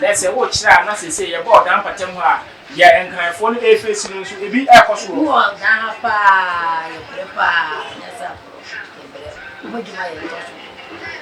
Na sɛ worekyerɛ a, na seesei yɛbɔɔ dan mpata mu a deɛ Nkranfoɔ no refeesi no nso, ebi rekɔ so wɔ hɔ. Wɔ dan ha paa, yɛbrɛ paa, nyansafoɔ, yɛbrɛ. Wɔn adwuma yɛ tɔ so,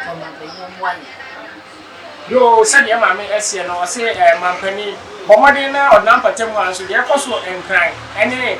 ma ɔmanpanin mmoa yɛn. Yoo, sɛdeɛ maame seɛ no, ɔse, eh, mampanin, bɔ mmɔden na ɔdan mpata mu a nso deɛ ɛrekɔ so wɔ Nkran ne.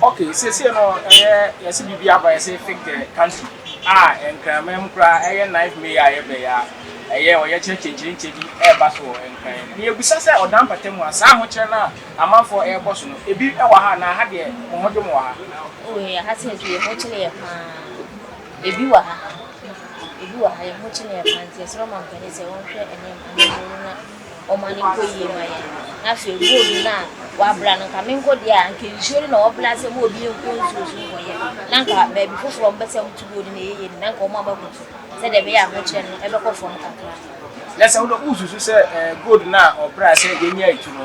Ok seesei no ɛyɛ yɛse biribi aba yɛse fig the country a Nkranman mu koraa ɛyɛ ninth May a yɛbɛ yi a ɛyɛ ɔyɛkyerɛ kyenkyerenkyɛ bi ɛɛba so wɔ Nkran mu. Miɛbisa sɛ ɔdan mpata mu a saa ahokyerɛ no a amanfoɔ ɛɛbɔ so no ebi ɛwɔ ha anaa ha deɛ mo ho dwo mo wɔ ha? Oh yɛ ha seesei yɛ ho kyere yɛ paa ebi wɔ ha ebi wɔ ha yɛ ho kye no yɛ paa nti yɛsrɛ ɔmanpanin sɛ ɔnhwɛ ɛnneɛma no mu na. ɔma no nkɔ yie ma yɛn na afei road no a wabra no nka menkɔ deɛ a nka nsuo no na wɔbra sɛ mo obi nkɔ nsuo so nkɔyɛ na nka baabi foforɔ ɔmpɛ sɛ moto road no ɛyɛ yie no na nka ɔma bɛkɔ so sɛdeɛ ɛbɛyɛ ahokyerɛ no ɛbɛkɔ fam kakra na sɛ wosusu sɛ eh, gold no a ɔbra sɛ yɛnya atu no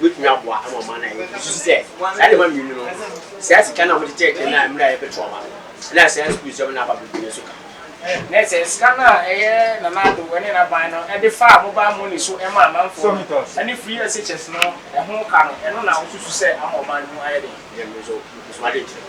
Wobɛtumi aboa ama ɔman no ayɛ yiye. Susu sɛ, saa nneɛma mmienu no, saa sika no a wode kyerɛkyerɛ no a mmerɛ a ɛyɛ petrol ma no, ɛna saa sukuu nsɛm no a aba bɛbue no nso ka ho. Ne sɛ, sika no a ɛyɛ Nana Addo ne n'aban no de faa mobile money so ma amanfoɔ no, ne free SHS no, ɛho ka no, ɛno na wosusu sɛ ama ɔman no mu ayɛ den? Ɛyɛ me nso, mepɛ sum adeɛ kyerɛ.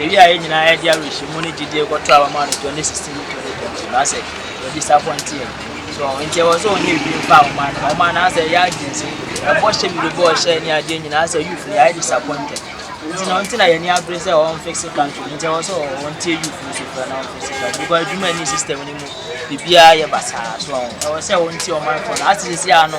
Yɛwie a yɛn nyinaa yɛde awerɛhyɛmu ne gyedie kɔtɔ aba ma no 2016 ne 2020 ba sɛ wɔdisapɔnte yɛn so nti ɛwɔ sɛ ɔnyɛ biribi mfa ahoma no ahoma no asɛ yɛ adwene sɛ ɛbɔ hyɛ bi bɛbɔ hyɛ ne adeɛ nyinaa sɛ youth no yɛayɛ disappointed nti na ɔnti na yɛn ani abere sɛ wɔn fixe country nti ɛwɔ sɛ wɔn tie youth no so kura na wɔn fixe country because adwuma ni system no mu biribiara yɛ basaa so ɛwɔ sɛ wɔn tie ɔmanfoɔ no asɛ sisi ano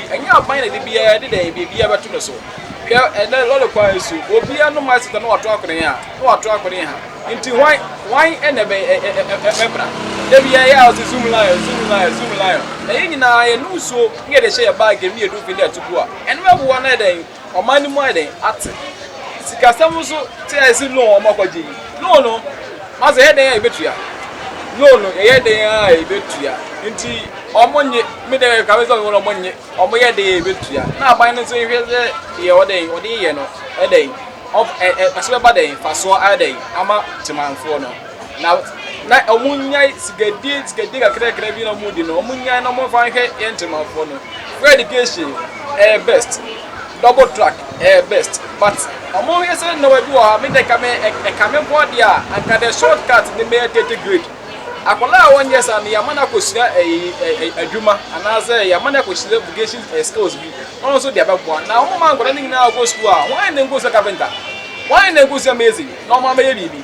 Ɛnyɛ aban na ɛde biara de dɛn biribiara bɛto no so. Hwɛ ɛnnɛ lɔre kwan nso, obiara nom ice water na wato akɔnen ha na wato akɔnen ha. Nti hwan, hwan na ɛbɛbra? Da biara ɛyɛ a wɔse zoom lion, zoom lion, zoom lion. Na yɛn nyinaa yɛnom nsuo na yɛde hyɛ yɛn bag mu na yɛduru fie na yɛto gu a, ɛno bɛboa anaa dɛn? Ɔman no mu ayɛ dɛn ate? Sikasɛm nso te ayɛ sɛ loan a wɔakɔgye yi. Loan no, ɔsɛ yɛyɛ dɛn a yɛbɛtua? Loan no, yɛyɛ dɛn a yɛbɛtua? Nti wɔnnye, me dɛ ɛka me sɛ wɔn wɔnnye, wɔyɛ dɛn a yɛbɛtua? Na aban no nso nhwɛ sɛ deɛ ɔdɛ yi, ɔde yɛ no, ɛdɛ yi, ɔf, ɛ, ɛ, ɛso bɛba dɛn, fasoɔ ayɛ dɛn ama temanfoɔ no. Na na ɔmo nyae sigadie sigadie kakrakra bi na ɔmo di no ɔmo nyae na ɔmo fa nhwɛ yɛn temanfoɔ no free education ɛyɛ best double track ɛyɛ best but ɔmo yɛ sɛ nneɛma bi wɔ hɔ a me dɛ kame ɛkame mpo adeɛ a anka dɛ short cut ne mɛyɛ tete grade akwadaa a wɔnyɛ saa no yɛama no akɔsua ɛyi adwuma anaasɛ yɛama no akɔsua vocation skills bi na ɔno nso de abɛboa na ɔmo ma nkwadaa no nyinaa kɔ sukuu a wɔn na nkɔsua carpenter wɔn na nkɔsua amazing na ɔmo amɛyɛ biribi.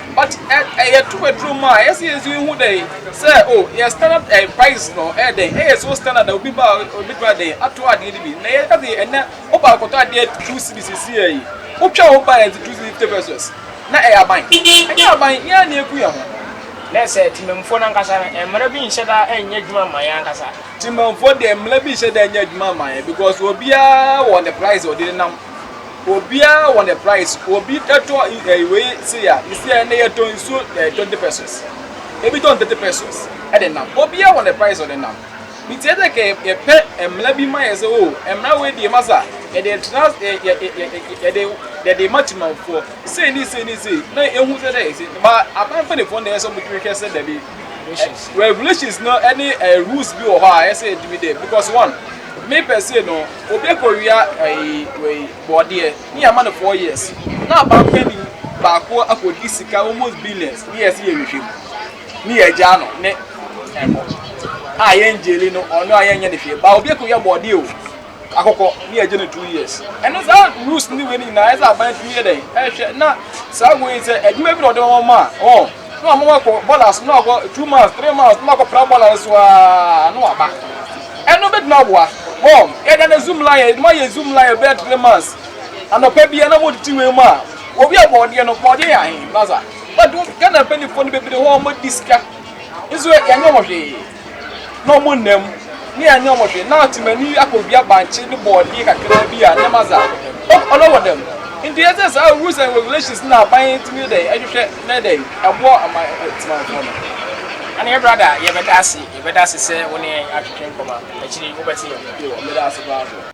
But ɛ ɛyɛ tu aduru mu a ɛyɛ sɛ yɛdze ehu dɛ sɛ o yɛ standard ɛ price no ɛyɛ dɛn ɛyɛ so standard a obi ba a obetumi ayɛ dɛn atɔ adeɛ no bi na yɛ ɛdze ɛnɛ wo ba kɔtɔ adeɛ two cedis sisiɛ yi wo twɛn wo ba ɛdze two cedis fifty pesos na ɛyɛ aban ɛnyɛ aban yɛn ara na yɛku yɛn ho. Nɛ sɛ temamufoɔ no ankasa no mmara bi nhyɛ da nyɛ adwuma mma yɛn ankasa. Temamufoɔ deɛ mmara bi nhyɛ da nyɛ adwuma mma yɛn because obiara wɔ ne price a ɔde nenam. Obiara wɔ ne price obi tɔ eh, wei se ya ne sɛ ne yɛtɔ nsuo eh, 20 pesos ebi tɔn 30 pesos ɛde nam obiara wɔ ne price ɔde nam nti ɛsɛ kɛ yɛpɛ mmara bi ma yɛ sɛ o mmara wei deɛ ma sa yɛde tra yɛde yɛde ma timanfoɔ sei ne sei ne sei na ehu sɛ dɛ ɛsɛ ba aban mpanyinfoɔ na ɛsɛ ɔmo hwehwɛ sɛ dabi regulations no ɛne eh, rules bi wɔ hɔ a ɛsɛ ɛdimi dɛ because one me pɛ se no Obi kɔ wia ɛyi wei bɔɔdeɛ ne yɛ ama no four years na aban panyin baako akɔ di sika almost billions ne yɛ si yɛ hwehwɛ mu ne yɛ gyaa no ne ɛbɔ a yɛ ngyeli no ɔno a yɛ nyɛ ne hwɛ ba obi kɔ wia bɔɔdeɛ o akɔkɔ ne yɛ gye no two years ɛno saa rules ne wei ne nyinaa ɛsɛ aban tumi yɛ dɛn ɛhwɛ na saa wei sɛ adwuma bi na ɔde wɔn ma a ɔn. Na ɔmo akɔ bɔɔla so na ɔkɔ two months three months na ɔkɔ pra bɔɔla no so aa na waba ɛno betumi aboa hɔn yɛda no zoom line yɛde ma yɛ zoom line bɛyɛ three months anɔpa bia na wɔde ti wei mu a obi a bɔɔdeɛ no bɔɔdeɛ yɛ ahen na dza but ghana mpanyinfoɔ no bebree hɔ ɔmo di sika nso yɛnyɛ wɔn hwee. na ɔmo nna mu, na yɛannyɛ ɔmo hwee, na Temani akowia bankye ne bɔɔdeɛ kakraa bi a nneɛma dza ok ɔdɔ wɔ dɛm. Ntsi yɛdze saa rules and regulations na aban tumi yɛ dɛn hwehwɛ na yɛ dɛn boa ɔman Temanfoɔ no. Ana yɛ brada yɛbɛda ase yɛbɛda ase sɛ wo ne yɛn atwetwe nkɔma akyiri wobɛte yɛn nka. Yo, meda ase paa so.